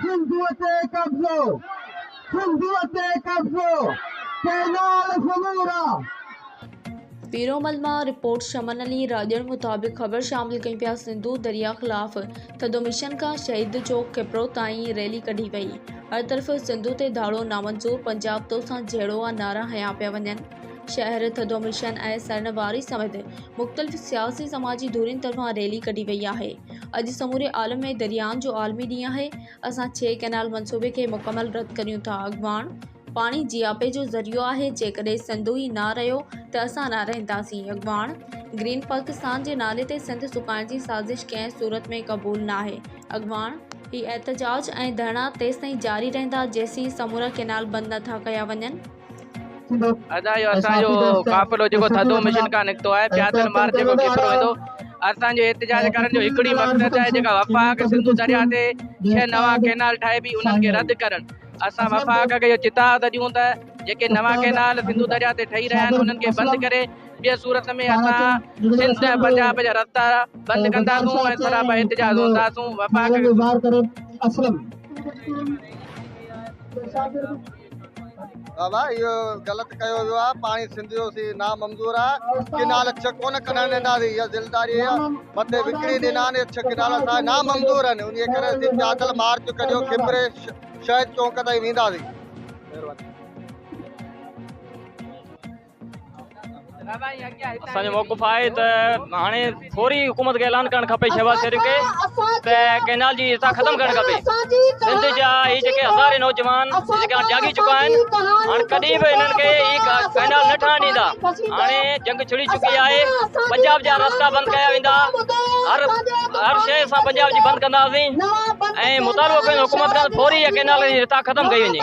سنڌوء تي قبضو، سنڌوء تي قبضو، ڪئنال سمورا. پيرومل مان رپورٽ شمن علي راڄڙ مطابق خبر شامل ڪيون پيا سنڌو درياء خلاف ٿڌو مشن کان شهيد چوڪ کپرو تائين ريلي ڪڍي وئي هر طرف سنڌو تي ڌاڙو نامنظور پنجاب توسان جهيڙو آ نعرا هنيا پيا وڃن. شهر ٿڌو مشن ۽ سرن واري سميت مختلف سياسي سماجي ڌرين طرفان ريلي ڪڍي وئي آهي اڄ سموري عالم ۾ دريائن جو عالمي ڏينهن آهي اسان ڇهه ڪئنال منصوبي کي مڪمل رد ڪريون ٿا اڳواڻ پاڻي جياپي جو ذريعو آهي جيڪڏهن سنڌو ئي نه رهيو ته اسان نه رهنداسين اڳواڻ گرين پاڪستان جي نالي تي سنڌ سڪائڻ جي سازش ڪنهن صورت ۾ قبول ناهي اڳواڻ هي احتجاج ۽ ڌرڻا تيستائين جاري رهندا جيسين سمورا ڪئنال بند نه ٿا ڪيا وڃن. ادا اهو اسان جو قافلو جيڪو ٿڌو مشن کان نڪتو آهي پياتن مار جيڪو ڪيترو ويندو اسان جو احتجاج ڪرڻ جو هڪڙي مقصد آهي جيڪا وفاق سنڌو دريا تي ڇهه نوان ڪينال ٺاهي بي انهن کي رد ڪرڻ اسان وفاق کي اهو چتاء ته ڏيون ته جيڪي نوان ڪينال سنڌو دريا تي ٺهي رهيا آهن انهن کي بند ڪري ٻي صورت ۾ اسان سنڌ ۽ پنجاب جا رستا بند ڪنداسون ۽ سراپا احتجاج هونداسون وفاق بابا اهو غلط ڪيو ويو آهي پاڻي سنڌ جو سي نا منظور آهي ڪنال اڇ ڪونه کڻڻ ڏينداسي اها ذميواري مٿي وڪڻي ڏنا آهن اڇ ڪنال اسان نا منظور آهن ان ڪري اسين پيادل مارچ ڪريو کبري شهيد چونڪ تائين وينداسي مهرباني اسان جو موقف آهي ته هاڻي فوري حڪومت کي اعلان ڪرڻ کپي شهباز شريف کي ته ڪئنال جي حصا ختم ڪرڻ کپي سنڌ جا هي جيڪي هزارين نوجوان جيڪي هاڻي جاڳي چڪا آهن هاڻي ڪڏهن به هنن کي هي ڪئنال نه ٺهڻ ڏيندا هاڻي جنگ ڇڙي چڪي آهي پنجاب جا رستا بند ڪيا ويندا هر هر شيء سان پنجاب جي بند ڪنداسين ۽ مطالبو ڪيون حڪومت کان فوري هي ڪئنال جي حصا ختم ڪئي وڃي